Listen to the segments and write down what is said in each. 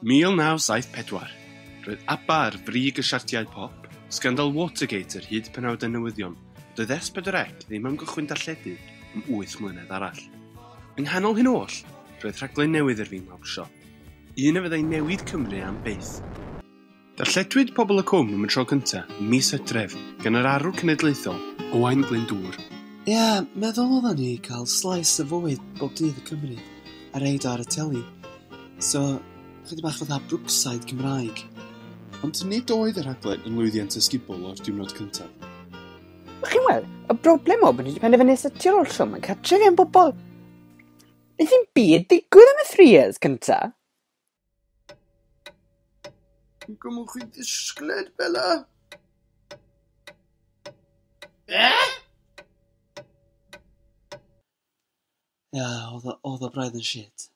1974, roedd ABBA ar frig y siartiau pop, sgandal Watergate yr hyd penawdau newyddion fod y S4C ddim am gychwyn darlledu am wyth mlynedd arall. Yng nghanol hyn oll, roedd rhaglen newydd i'r Fingmawr Siop, un a fyddai newid Cymru am byth. Darlledwyd Pobol y Cwm am y tro cyntaf ym mis Hydref gan yr arwr cenedlaethol, Owain Glyndŵr. Ia, meddwl odda ni cael slice o fywyd bob dydd y Cymry a reid o ar y teli. So, chydig bach fatha Brookside Cymraeg. Ond nid oedd y rhaglen yn lwyddiant ysgubol o'r diwrnod cyntaf. Chi'n weld, y broblem oedd bod ni wedi penderfynu setio'r oll swm yn cartref i am bobl. Nes i'm byd digwydd am y three years cynta. Dwi'n gwybod chi'n disgled, Bella. Eh? Ia, oedd o- oedd o braidd yn shit.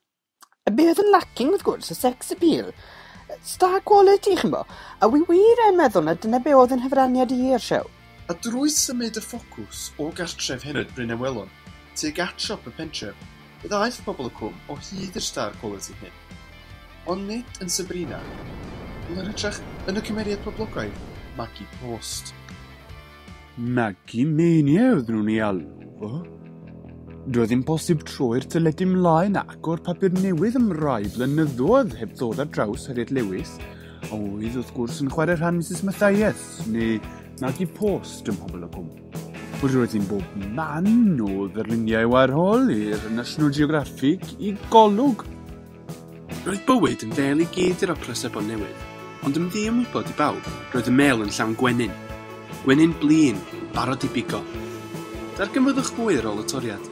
A be oedd yn lacking wrth gwrs, y sex appeal. Star quality, chi'n bo. A wi wir yn meddwl na dyna be oedd yn hyfraniad i i'r siow. a drwy symud y ffocws o gartref Henyd Bryn Ewelon tuag at siop y pentref, fe ddaeth pobl y cwm o hyd i'r star quality hyn. Ond nid yn Sabrina, ond yn hytrach yn y cymeriad poblogaidd, Maggie Post. Maggie Mania oedden nhw'n ei alw fo. Doedd ddim posib troi'r teledu mlaen a agor papur newydd am rai blynyddoedd heb ddod ar draws Harriet Lewis, Oedd wrth gwrs yn chwarae rhan Mrs Mathias, neu Maggie Post ym Pobl y Cwm. Roedd hi'n bob man o ddarluniau warhol i'r National Geographic i golwg. Roedd bywyd yn fel i gyd yr opera sebon newydd, ond yn ddi ymwybod i bawb, roedd y mêl yn llawn gwenyn. Gwenyn blin, barod i bigo. Darganfyddwch fwy ar ôl y toriad.